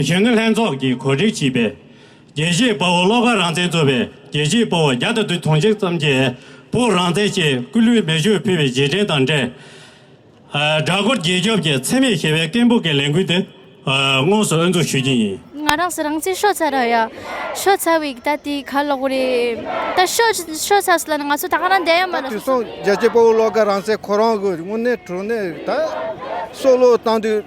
གཞོན་ནུ་ལྷན་ཚོགས་ཀྱིས་གོ་སྒྲིག་བྱས་པའི་དགེ་བཤེས་སྤོ་བོ་བློ་དགའ་རང་བཙན་གཙོས་པའི་དགེ་བཤེས་སྤོ་བོ་བརྒྱ་དང་དུ་དུང་ཕྱུར་ཙམ་གྱིས་བོད་རང་བཙན་ཆེད་སྐུ་ལུས་མེ་མཆོད་ཕུལ་བའི་རྗེས་དྲན་དང་འབྲེལ། སྦྲ་སྒོར་རྒྱལ་སྐྱོབ་ཀྱི་འཚེ་མེད་ཞི་བའི་སྐད་འབོད་ཀྱི་ལས་འགུལ་དེ་དངོས་སུ་དབུ་འཛུགས་ཞུ་རྒྱུ་ཡིན། ང་རང་ཚོ་རང་བཙན་ཤོག་ཚ་ར་ཡ། ཤོག་ཚ་བའི་ད་ལྟའི་ཁ་ལོག་རེད། ད་ཤོག་ཤོག་ཚ་སི་ལ་ནི་ང་ཚོ་ད་ང་རང་བསྡད་ཡ་མ་རེད། དུས་སང་དགེ་བཤེས་སྤོ་བོ་བློ་དགའ་རང་བཙན་ཁོ་རང་གི་དངོས་གནས་དྲུང་ནས་ད་སྲོག་བློས་བཏང་དུས།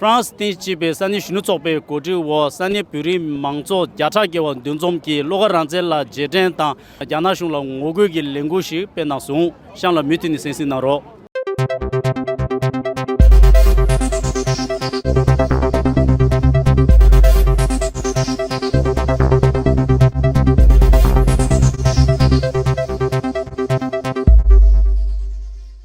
ཧྥྲང་སི་ཏན་སྤྱི་པའི་ས་གནས་གཞོན་ནུ་ཚོགས་པའི་གོ་སྒྲིག་འོག་ས་གནས་བོད་རིགས་མང་ཚོགས་བརྒྱ་ཕྲག་བརྒལ་བ་འདུ་འཛོམས་ཀྱིས་བློ་དགའ་རང་བཙན་ལ་རྗེས་དྲན་དང་རྒྱ་ནག་གཞུང་ལ་ངོ་རྒོལ་གྱི་ལས་འགུལ་ཞིག་སྤེལ་གནང་སོང་གཤམ་ལ་མུས་མཐུད་ནས་གསན་གཟིགས་གནང་རོགས།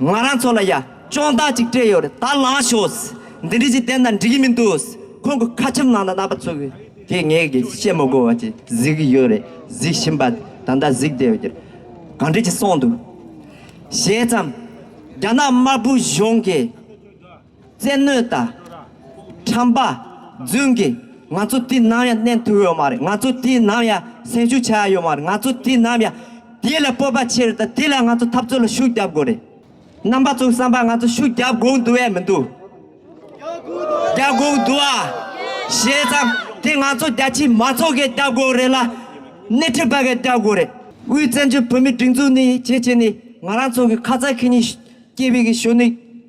ང་རང་ཚོ་ལ་ཡ་ཅོང་དག་ཅིག་སྤྲད་ཡོད་རེད་ད་ལངས་ཤོག། འདི་འདྲ་ཞིག་བསྟན་དང་འགྲིག་གི་མི་འདུག་ཁོང་གི་ཁ་ཆེམས་ནང་དུ་གནང་པ་ཚོ་གིས་ངས་བཤད་མི་དགོས་བ་ཅིག་གཟིགས་ཀྱི་ཡོད་རེད་གཟིགས་བཞིན་པ་ད་ལྟ་གཟིགས་བསྡད་ཡོད་རེད། གང་འདྲ་ཅིག་སོང་འདུག་བཤད་ཙམ། རྒྱ་ནག་དམར་པོའི་གཞུང་གིས། བཙན་གནོད་དང། ཁྲམ་པ། རྫུན་གྱི། ང་ཚོ་དུས་ནམ་ཡང་གནས་ཐུབ་ཡོད་མ་རེད་ང་ཚོ་དུས་ནམ་ཡང་སེམས་ཤུགས་ཆགས་ཡོད་མ་རེད་ང་ཚོ་དུས་ནམ་ཡང། དེ་ལ་སྤོབས་པ་ཆེ་རེད་དང་དེ་ལ་ང་ཚོ་འཐབ་རྩོད་ལ་ཤུགས་རྒྱབ་དགོས་རེད། རྣམ་པ་ཚོའི་བསམ་པ་ང་ཚོ་ཤུགས་རྒྱབ་དགོས་འདུག་ཨེ་མི་འདུག། རྒྱབ་དགོས་འདུག་ཨ། བྱས་ཙང་དེ་ང་ཚོ་རྒྱ་ཆེའི་མ་ཚོགས་ཀྱིས་རྒྱབ་དགོས་རེད་ལ། སྣེ་ཁྲིད་པ་གིས་རྒྱབ་དགོས་རེད། དབུས་བཙན་བྱོལ་བོད་མིའི་སྒྲིག་འཛུགས་ནི་བྱེད་བྱེད་ནི་ང་རང་ཚོ་གི་ཁ་ཚ་ཁེ་གཉིས། སྐྱེས་བུ་གི་གཞོན་ནུ་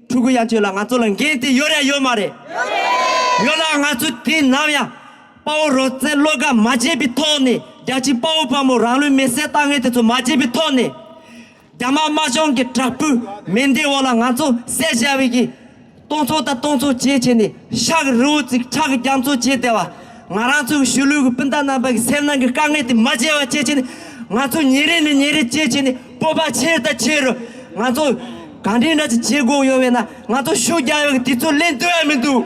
ཕྲུ་གུ་ཡང་ཁྱོད་ལ་ང་ཚོ་ལ་འགན་དེ་ཡོད་རེད་ཡོད་མ་རེད། ཡོད་རེད། ཡོད་ལ་ང་ཚོས་དུས་ནམ་ཡང་དཔའ་བོ་རོགས་རྩེད་བློས་དགའ་མ་བྱས་པའི་ཐོག་ནས་རྒྱ་ཆེའི་དཔའ་བོ་དཔའ་མོ་རང་ལུས་མེ་བསྲེགས་ལྟ་ངན་དེ་ཚོ་མ་བྱས་པའི་ཐོག་ནས། རྒྱ་དམར་དམར་གཞུང་གི་དྲག་པོའི་མེ་མདའི་འོག་ལ་ང་ཚོ་བསད་བཞག་བའི་གི། སྟོང་ཚོ་དང་སྟོང་ཚོ་བཅས་བྱས་ནས་ཤག་རི་བོ་ཙིག་ཁྲག་རྒྱ་མཚོ་བཅས་བརྡལ་བ། ང་རང་ཚོའི་གཞིས་ལུས་ཀྱི་སྤུན་ཟླ་རྣམ་པ་ཀྱི་སེམས་ནང་གི་དཀའ་ངལ་དེ་མ་བརྗེད་པ་བཅས་བྱས་ནས་ང་ཚོ་ཉིན་རེ་ནས་ཉིན་རེ་བཅས་བྱས་ནས་སྤོབས་པ་ཆེ་དང་ཆེ་རུ། ང་ཚོ་ག་འདྲའི་འདྲ་ཅི་བྱེད་དགོས་ཡོད་བས་ན་ང་ཚོ་ཤུགས་རྒྱག་ཡོད་དེ་ཚོ་ལེན་འདུག་ཡ་མི་འདུག།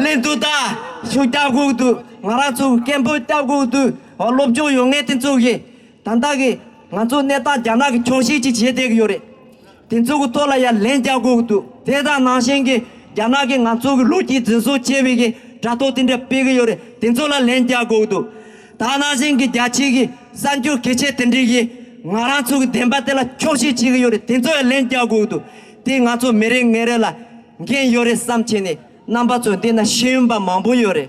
ལེན་འདུག་ད། ཤུགས་རྒྱག་དགོས་འདུག་ང་རང་ཚོ་སྐད་འབོད་བརྟག་དགོས་འདུག་ཨོ་སློབ་སྦྱོང་ཡོད་ངེས་དེ་ཚོ་ཡིན། དང་བདག་གིས་ང་ཚོའི་གནས་སྟངས་རྒྱ་ནག་གི་འཁྱོག་བཤད་ཅིག་བྱེད་བསྡད་ཀྱི་ཡོད་རེད། དེ་ཚོ་གི་ཐོག་ལ་ཡང་ལན་རྒྱག་དགོས་ཀྱི་འདུག་དེ་དང་ནང་བཞིན་གྱི་རྒྱ་ནག་གིས་ང་ཚོ་གི་ལོ་རྒྱུས་འཛིན་བཟུང་བྱས་པའི་གི་དྲ་ཐོག་དེ་འདྲ་སྤེལ་གྱི་ཡོད་རེད་དེ་ཚོ་ལ་ལན་རྒྱག་དགོས་ཀྱི་འདུག་ད་ནང་བཞིན་གྱི་རྒྱ་ཆེ་གི་གསར་འགྱུར་གི་ཆེད་དེ་འདྲས་གི་ང་རང་ཚོ་གི་བདེན་པ་དེ་ལ་འཁྱོག་བཤད་བྱེད་གི་ཡོད་རེད་དེ་ཚོ་ཡང་ལན་རྒྱག་དགོས་ཀྱི་འདུག་དེ་ང་ཚོ་མི་རེ་ངན་རེ་ལ་འགན་ཡོད་རེད་བསམ་བྱས་ནས་རྣམ་པ་ཚོ་འདི་ན་ཤེས་ཡོན་པ་མང་པོ་ཡོད་རེད་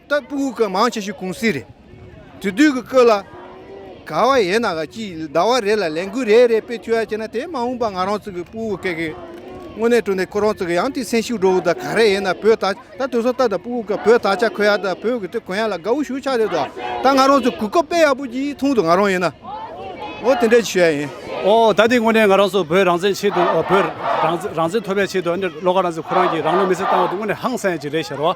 ལྟ་སྤུ་གུ་གུ་མང་ཆེ་ཤོས་ཀུང་སི་རེད། དུས་དུས་ཀྱི་སྐོར་ལ། ག་བ་ཡས་ན་ག་ཅིག་ཟླ་བ་རེ་ལ་ལས་འགུལ་རེ་རེ་སྤེལ་ཐུབ་ཡ་བྱས་ན་དེ་མ་འོངས་པ་ང་རང་ཚོ་གི་སྤུ་གུ་གུ་གི་དངོས་གནས་སྤྲོ་ནས་ཁོ་རང་ཚོ་གི་ཡང་ཏི་སེམས་ཤུགས་འགྲོ་འོས་ད་ག་རེ་ཡས་ན་བོད་ད་ད་དུས་སོ་ད་ད་སྤུ་གུ་གུ་བོད་ད་ཆ་ཁོ་ཡ་ད་བོད་གུ་ཏི་གུ་ཡ་ལ་དགའ་བོ་ཞུ་ཆགས་ཡོད་ད་ད་ང་རང་ཚོ་གུ་གུ་དཔེ་ཡག་པོ་ཅིག་མཐོང་དུ་ང་རང་ཡས་ན་ངོ་དེ་འདྲས་ཞུ་ཡ་ཡིན། ཨོ་ད་ཏི་དངོས་གནས་ང་རང་ཚོ་བོད་རང་བཙན་ཆེད་དུ་བོད་རང་རང་བཙན་ཐོབ་པའི་ཆེད་དུ་ཨ་ནི་བློ་ཁ་རང་ཚོས་ཁོ་རང་གི་རང་ལུས་མེ་སྲེག་བཏང་བ་དེ་དངོས་གནས་ཧང་སངས་ཡ་ཅིག་རེད་ཤར་བ།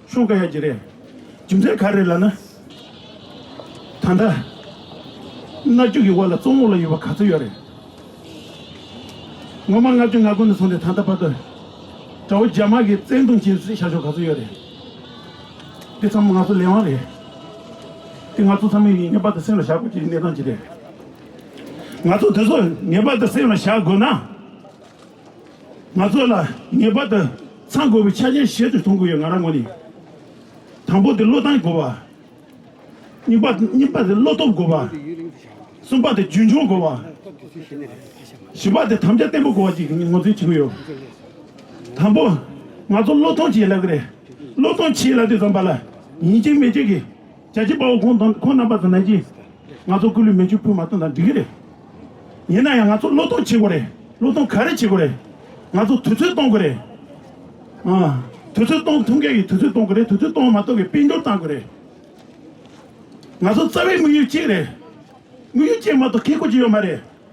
ཤོང་ཀ་ཡ་གྱི་རེད། རྒྱུ་མཚན་ག་རེད་ལ་ན། ད་ལྟ། སྣ་རྒྱུ་གི་བར་ལ་གཙོ་བོ་ལ་ཡོད་པ་ག་ཚོད་ཡོད་རེད། ངོ་མ་ལྔ་བཅུ་ང་དགུ་ནས་བཟུང་སྟེ་ད་ལྟ་བར་དུ། དགྲ་བོ་རྒྱ་དམར་གྱི་བཙན་རྡུང་བྱེད་བཞིན་བྱ་ཞོར་ག་ཚོད་ཡོད་རེད། འདི་ཚང་མ་ང་ཚོ་ལས་དབང་རེད། འདི་ང་ཚོ་ཚང་མས་ངེས་པར་དུ་སེམས་ལ་བཞག་དགོས་ཀྱི་གནས་སྟངས་ཅིག་རེད། ང་ཚོ་དེ་ཚོ་ངེས་པར་དུ་སེམས་ལ་བཞག་དགོས་ན། ང་ཚོ་ལ་ངེས་པར་དུ་ཚང་དགོས་པའི་ཆ་རྐྱེན་གཞན་དུ་མཐོང་དགོས་ཡོད་ང་རང་ངོས་ནས། དང་པོ་དེ་བློ་བཏང་དགོས་པ། གཉིས་པ་གཉིས་པ་དེ་བློ་སྟོབས་དགོས་པ། གསུམ་པ་དེ་རྒྱུན་འཁྱོངས་དགོས་པ། བཞི་པ་དེ་དམ་བཅའ་བརྟན་པོ་དགོས་པ་བཅས་ངོས་འཛིན་བྱེད་ཀྱི་ཡོད། དང་པོ། ང་ཚོ་བློ་ཐོངས་བྱེད་ལབ་ཀྱི་རེད། བློ་ཐོངས་བྱེད་ལབ་དུས་ཙམ་པ་ལ་ཡིན་གཅིག་མེད་གཅིག་གི། རྒྱལ་གཅེས་དཔའ་བོ་ཁོང་དང་ཁོང་རྣམ་པ་དང་ནང་གི་ང་ཚོ་སྐུ་ལུས་མེ་ཆུ་འཕུལ་མ་གཏོང་དང་འགྲིག་གི་རེད། ཡིན་ན་ཡང་ང་ཚོ་བློས་གཏོང་བྱེད་དགོས་རེད་བློས་གཏོང་ག་རེ་བྱེད་དགོས་རེད། ང་ཚོ་དུས་ཚོད་གཏོང་དགོས་རེད། དུས་ཚོད་གཏོང་ཐུབ་མཁན་གྱི་དུས་ཚོད་གཏོང་དགོས་རེད་དུས་ཚོད་གཏོང་མ་ཐུབ་པའི་དཔལ་འབྱོར་གཏང་དགོས་རེད། ང་ཚོ་རྩ་བའི་དམིགས་ཡུལ་གཅིག་རེད། དམིགས་ཡུལ་གཅིག་མ་གཏོགས་ཁེ་ཁོ་ཅི་ཡོད་མ་རེད།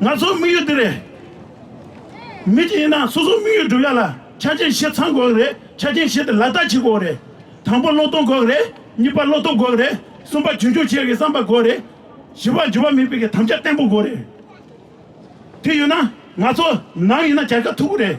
ང་ཚོའི་དམིགས་ཡུལ་འདི་རེད། མི་གཅིག་ཡིན་ན་སོ་སོའི་དམིགས་ཡུལ་བསྒྲུབ་ཡག་ལ་ཆ་རྐྱེན་བཞི་ཚང་དགོས་གི་རེད་ཆ་རྐྱེན་བཞི་དེ་ལག་བསྟར་བྱེད་དགོས་གི་རེད། དང་པོ་བློ་གཏོང་དགོས་གི་རེད་གཉིས་པ་བློ་སྟོབས་དགོས་གི་རེད་གསུམ་པ་རྒྱུན་འཁྱོངས་བྱེད་ཀྱི་བསམ་པ་དགོས་རེད། བཞི་པ་འགྱུར་བ་མིན་པའི་དམ་བཅའ་བརྟན་པོ་དགོས་རེད། དེ་ཡོད་ན་ང་ཚོ་ནམ་ཡིན་ན་རྒྱལ་ཁ་ཐུབ་གི་རེད།